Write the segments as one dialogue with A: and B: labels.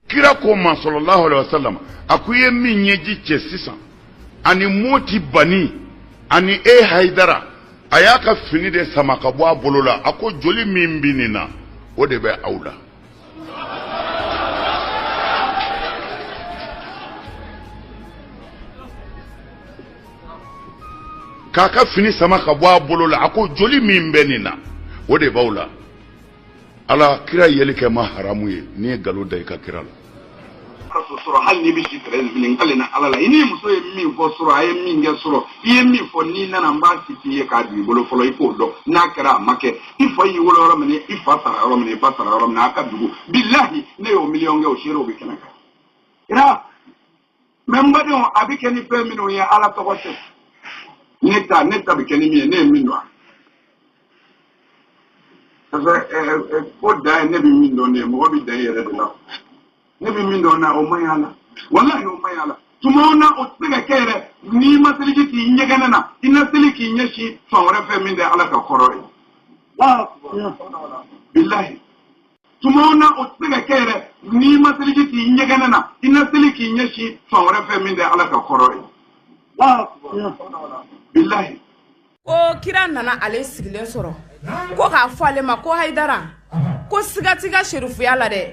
A: kira ko ma sallallahu alaihi wasallam a k'u ye min ɲɛji cɛ sisan ani moti bani ani e haidara a y'a ka fini de sama ka bɔ a bolo la a ko joli min bɛ nin na o de bɛ aw la k'a ka fini sama ka bɔ a bolo la a ko joli min bɛ nin na o de b'aw la ala kira yeli kɛ ma haramu ye n'i ye galon da i ka kira la ka
B: so sɔrɔ hali n'i bɛ si tɛrɛ nin fini k'ale na ala la i ni muso ye min fɔ surɔ a ye min kɛ surɔ i ye min fɔ n'i nana n b'a citer i ye k'a d'i bolo fɔlɔ i k'o dɔn n'a kɛra a ma kɛ i fa y'i wolo yɔrɔ min i fa sara yɔrɔ min i ba sara yɔrɔ min a ka dugu bilahi ne y'o miliyɔn kɛ o seerew bɛ kɛnɛ kan mais n badenw a bɛ kɛ ni fɛn minnu ye ala tɔgɔ tɛ ne ta ne ta bɛ kɛ ni min ye ne ye min dɔn a fɛ ko dan ye ne bɛ min dɔn de ye mɔgɔ bɛ dan i yɛrɛ de la ne bɛ min dɔn na o man ɲi a la walahi o man ɲi a la tuma o na o tɛ se ka kɛ yɛrɛ n'i ma seliji k'i ɲɛgɛnɛ na i na seli k'i ɲɛsin fan wɛrɛ fɛ min tɛ ala ka kɔrɔn ye bilahi tuma o na o tɛ se ka kɛ yɛrɛ n'i ma seliji k'i ɲɛgɛnɛ na i na seli k'i ɲɛsin fan wɛrɛ fɛ min tɛ ala ka kɔrɔn ye bilahi ko
C: kira nana ale sigilen sɔrɔ ko k'a fɔ ale ma ko hayidara ko siga t'i ka serifuya la dɛ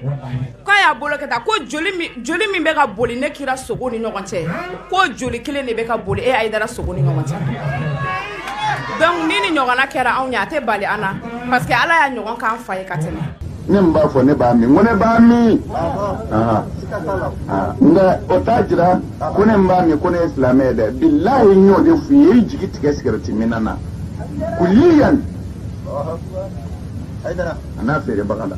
C: k'a y'a bolo kɛ tan ko joli min joli min bɛ ka boli ne kira sogo ni ɲɔgɔn cɛ ko joli kelen de bɛ ka boli e hayidara sogo ni ɲɔgɔn cɛ donc ni nin ɲɔgɔnna kɛra anw ye a tɛ bali an na parce que ala y'a ɲɔgɔn k'an fa ye ka tɛmɛ ne min b'a fɔ
D: ne b'a min ko ne b'a min nka o t'a jira ko ne min b'a min ko ne ye silamɛ ye dɛ bilahi n y'o de f'i ye i jigi tigɛ sigɛrɛti minna na kuliyan a n'a feerebaga la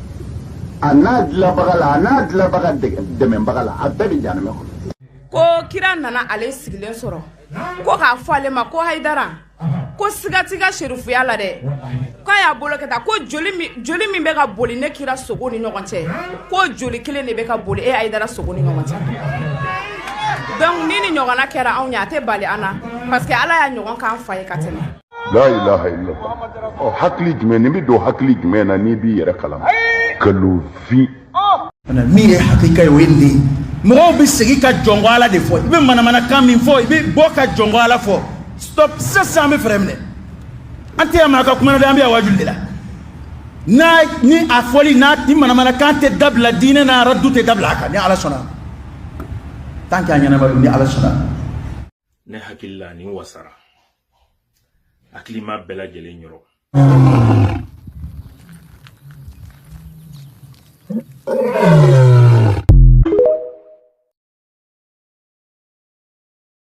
D: a n'a dilabaga la a n'a dilabaga dɛmɛbaga la a bɛɛ bɛ janamɛ kɔnɔ ko kira
C: nana ale sigilen sɔrɔ ko k'a fɔ ale ma ko hayidara ko siga t'i ka serifuya la dɛ k'a y'a bolo kɛ tan ko joli min bɛ ka boli ne kira sogo ni ɲɔgɔn cɛ ko joli kelen de bɛ ka boli e hayidara sogo ni ɲɔgɔn cɛ donc ni nin ɲɔgɔnna kɛra anw ye a tɛ bali an na parce que ala y'a ɲɔgɔn k'an fa ye ka tɛmɛ la
A: ilaha illallah hakili jumɛn n'i bɛ don hakili jumɛn na n'i b'i yɛrɛ kalama kalofin
E: min ye hakika ye o ye nin de ye mɔgɔw bɛ segin ka jɔnko ala de fɔ i bɛ manamanakan min fɔ i bɛ bɔ ka jɔnko ala fɔ stop sisan an bɛ frein minɛ an tɛ yan maa ka kuma na dɛ an bɛ yan wajuli de la n'a ni a fɔli n'a ni manamanakan tɛ dabila diinɛ na aradu tɛ dabila a kan ni ala sɔnna tant que a ɲɛnama don ni ala sɔnna ne
F: hakili la nin wasara hakilima bɛɛ lajɛlen yɔrɔ